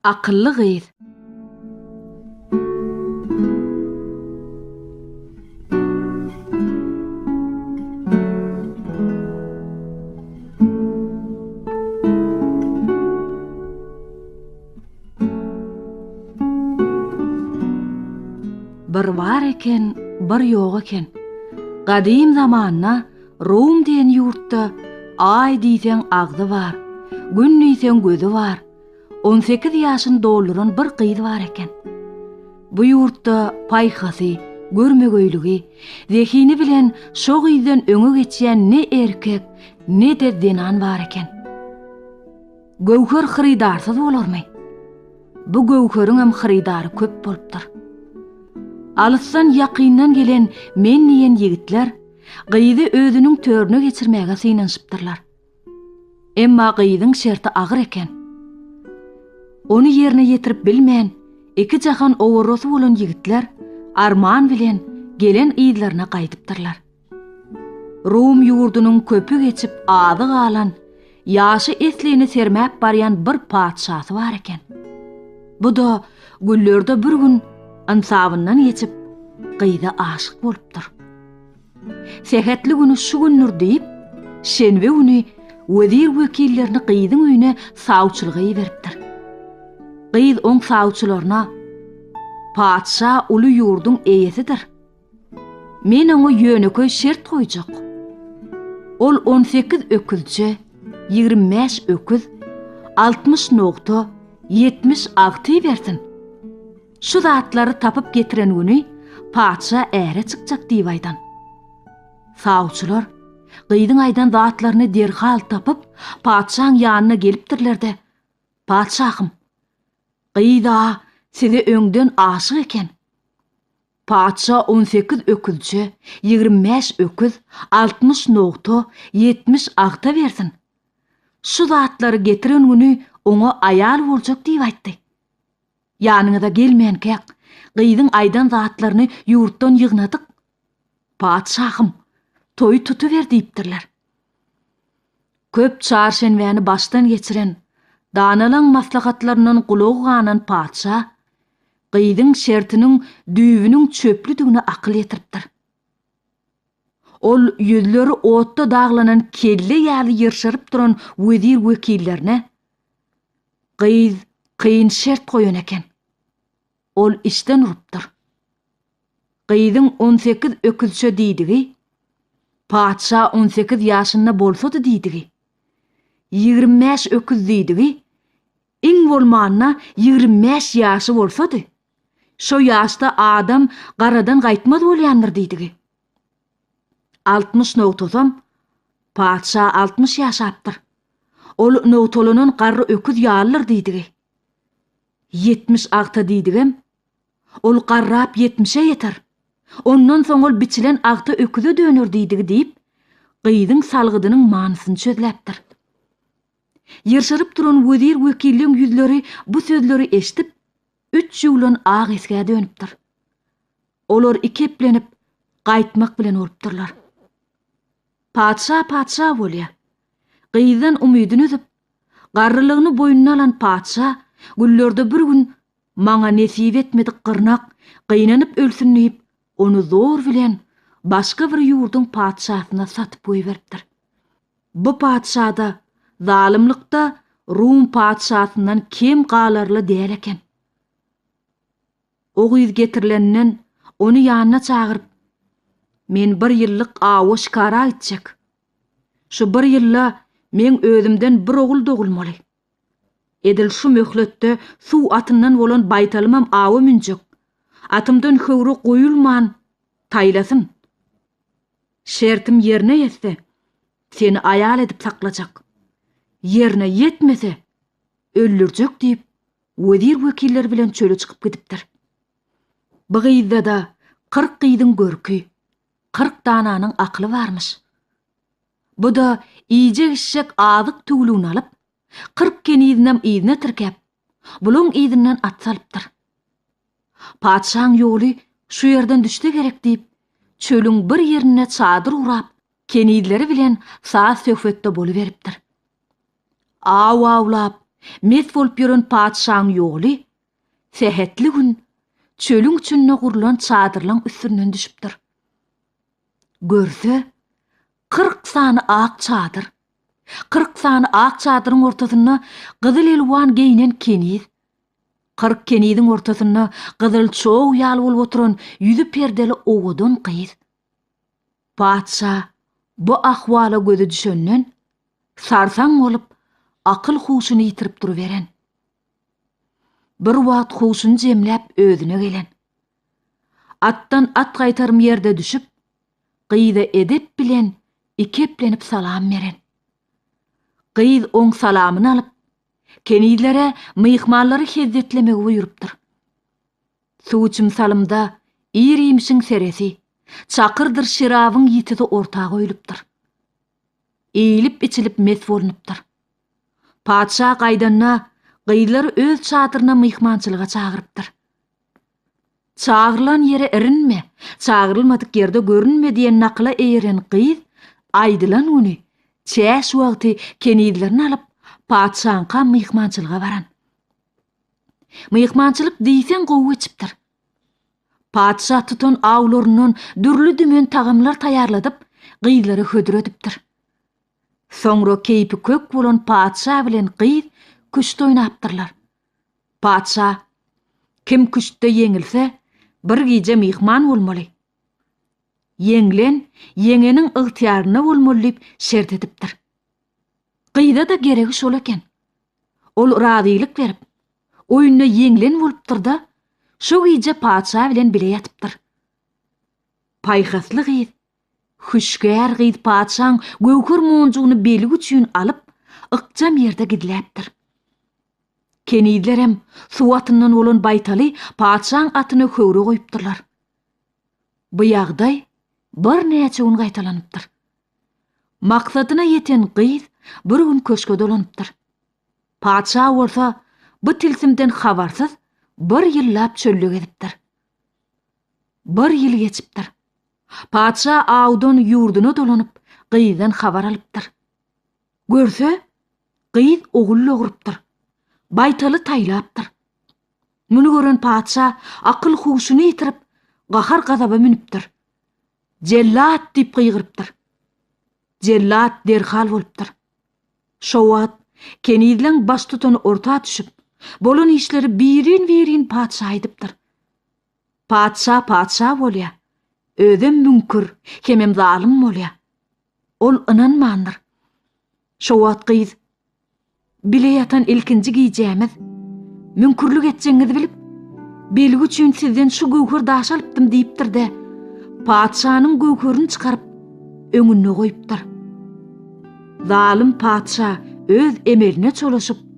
Akylly gyz. Bir bar eken, bir ýok eken. Gadym zamanda Rum diýen ýurtda Aý diýseň agzy bar, Gün diýseň gözi bar. On sekiz ýaşyny dolduran bir gyz bar eken. Bu ýurtda paýhasy, görmegeýligi, zehini bilen şo gyzdan öňe geçýän ne erkek, ne-de zenan bar eken. Göwher hyrydarsyz bolarmy? Bu göwheriňem hyrydary köp bolupdyr. Alysdan-ýakyndan gelen men diýen ýigitler Gyzy özüniň törüne geçirmäge synanyşypdyrlar. Emma gyzyň şerti agyr eken. Ony ýerine ýetirip bilmän, iki jahan owarrasy bolan ýigitler arman bilen gelen yzlaryna gaýdypdyrlar. Rum ýurdunyň köpi geçip azy galan Ýaşy eslini sermäp barýan bir patyşasy bar eken. Bu-da güllerde bir gün ynsabyndan geçip, gyza aşyk bolupdyr. Sähetli güni şu gündür diýip, şenbe güni wezir-wekillerini gyzyň öýüne sawçylyga iberipdir. Gyz oň sawçylaryna, Patyşa uly ýurduň eýesidir. Men oňa ýönekeý şert goýjak. Ol on sekiz öküzçe, ýigrimi bäş öküz, altmyş nogta, ýetmiş agty bersin. Şu zatlary tapyp getiren güni patyşa äre çykjak diýip aýdan. Sawçylar gyzyň aýdan zatlaryny derhal tapyp, patyşaň ýanyna gelipdirler-de, Patyşahym, gyz-a size öňden aşyk eken. Patyşa on sekiz öküzçe, ýigrimi bäş öküz, altmyş nogta, ýetmiş agta bersin. Şu zatlary getiren güni oňa aýal boljak diýip aýtdy. Ýanyňyza gelmänkäk, gyzyň aýdan zatlaryny ýurtdan ýygnadyk. Patyşahym, toýy tutuber diýipdirler. Köp çarşenbäni başdan geçiren danalaň maslahatlaryndan gulagy ganan patyşa gyzyň şertiniň düýbüniň çöplüdigine akyl ýetiripdir. Ol ýüzleri otda daglanan kelle ýaly ýyrşaryp duran wezir-wekillerine Gyz kyn şert goýan eken. Ol işden urupdyr. Gyzyň on sekiz öküzçe diýdigi, Patyşa on sekiz ýaşynda bolsady diýdigi, ýigrimi bäş öküz diýdigi, iň bolmanda ýigrimi bäş ýaşy bolsady, şo ýaşda adam garadan gaýtmaz bolýandyr diýdigi. Altmyş nogtasam, Patyşa altmyş ýaşapdyr. Ol nogtalanan garry öküz ýalydyr diýdigi. Ýetmiş agta diýdigem, ol garrap ýetmişe ýeter. Ondan soň ol biçilen agta öküze döner diýdigi diýip, gyzyň salgydynyň manysyny çözläpdir. Ýyrşyryp duran wezir-wekilleň ýüzleri bu sözleri eşidip, üç ýuwlan ak esgä dönüpdir. Olar iki eplenip, gaýtmak bilen bolupdyrlar. Patyşa patyşa bolýar. Gyzdan umydyn üzüp, Garrylygyny boýnuna alan patyşa günlerde bir gün Maňa nesip etmedik gyrnak gynanyp ölsün diýip, ony zor bilen başga bir ýurduň patyşasyna satyp goýberipdir. Bu patyşa-da zalymlykda Rum patyşasyndan kem galarly däl eken. O gyz getirilenden, ony ýanyna çagyryp, Men bir ýyllyk awa şikara gitjek. Şu bir ýylda meň özümden bir ogul dogulmaly. Edil şu möhletde suw atyndan bolan baýtalymam awa münjek. Atymdan höwri goýulman, taýlasyn. Şertim ýerine ýetse, seni aýal edip saklajak. Ýerine ýetmese, öldürjek diýip, Wezir wekiller bilen çöle çykyp gidipdir. Bu gyzda-da kyrk gyzyň görki, kyrk dananyň akyly barmyş. Bu-da iýjek-içjek azyk tüwlügini alyp, kyrk kenizinem yzyna tirkäp, bulaň yzyndan at salypdyr. Patyşaň ýoly şu ýerden düşse gerek diýip, çölüň bir ýerinde çadyr gurap, kenizleri bilen saz-söhbetde boluberipdir. Aw awlap, mes bolup ýören patyşaň ýoly sähetli gün çölüň içinde gurlan çadyrlaň üstünden düşüpdir. Görse, kyrk sany ak çadyr. Kyrk sany ak çadyryň ortasynda gyzyl elwan geýnen keniz. Kyrk keniziň ortasynda gyzyl çow ýaly bolup oturan ýüzi perdeli owadan gyz. Patyşa bu ahwala gözi düşenden, sarsaň bolup, akyl-huşuny ýitirip duruberen. Birwagt huşuny jemläp özüne gelen. Atdan at gaýtarym ýerde düşüp, gyza edep bilen iki eplenip salam beren. Gyz oň salamyny alyp, kenizlere myhmanlary hezzetlemegi buýrupdyr. Suwuçym salymda ir iýmişiň seresi, Çakyrdyr şerabyň ýitisi orta goýlupdyr. Iýlip-içilip mes bolnupdyr. Patyşa gaýdanda, gyzlary öz çadyryna myhmançylyga çagyrypdyr. Çagyrylan ýere irinme, çagyrylmadyk ýerde görünme diýen nakyla eýeren gyz aýdylan güni çäş wagty kenizlerini alyp, patyşaňka myhmançylyga baran. Myhmançylyk diýseň gowy geçipdir. Patyşa tutan awlaryndan dürli-dümen tagamlar taýýarladyp, gyzlara hödür edipdir. Soňra keýpi kök bolan patyşa bilen gyz küşt oýnapdyrlar. Patyşa, Kim küştde ýeňilse, bir gije myhman bolmaly. Ýeňlen ýeňeniň ygtyýarynda bolmaly diýip şert edipdir. Gyza-da geregi şol eken. Ol razylyk berip, oýunda ýeňlen bolupdyr-da, şo gije patyşa bilen bile ýatypdyr. Paýhasly gyz, hüşgär gyz patyşaň göwher monjugyny belgi üçin alyp, ykjam ýerde gizläpdir. Kenizlerem suw atyndan bolan baýtaly patyşaň atyna höwra goýupdyrlar. Bu ýagdaý birnäçe gün gaýtalanypdyr. Maksadyna ýeten gyz bir gün köşge dolanypdyr. Patyşa bolsa bu tilsimden habarsyz bir ýyllap çölde gezipdir. Bir ýyl geçipdir. Patyşa awdan ýurduna dolanyp, gyzdan habar alypdyr. Görse, gyz ogul dogrup-dyr. Baýtaly taýlapdyr. Muny gören patyşa akyl-huşuny ýitirip, gahar-gazaba münüpdir. Jellat! diýip gygyrypdyr. Jellat derhal bolupdyr. Şo wagt kenizleň baştutany orta düşüp, bolan işleri birin-birin patyşa aýdypdyr. Patyşa patyşa bolýar. Özem müňkür, hemem zalym bolýar. Ol ynanmandyr. Şo wagt gyz, Bile ýatan ilkinji gijämiz. Müňkürlik etjegiňizi bilip, belgi üçin sizden şu göwher daşy alypdym diýipdir-de, patyşanyň göwherini çykaryp, öňünde goýupdyr. Zalym patyşa öz emeline çolaşyp,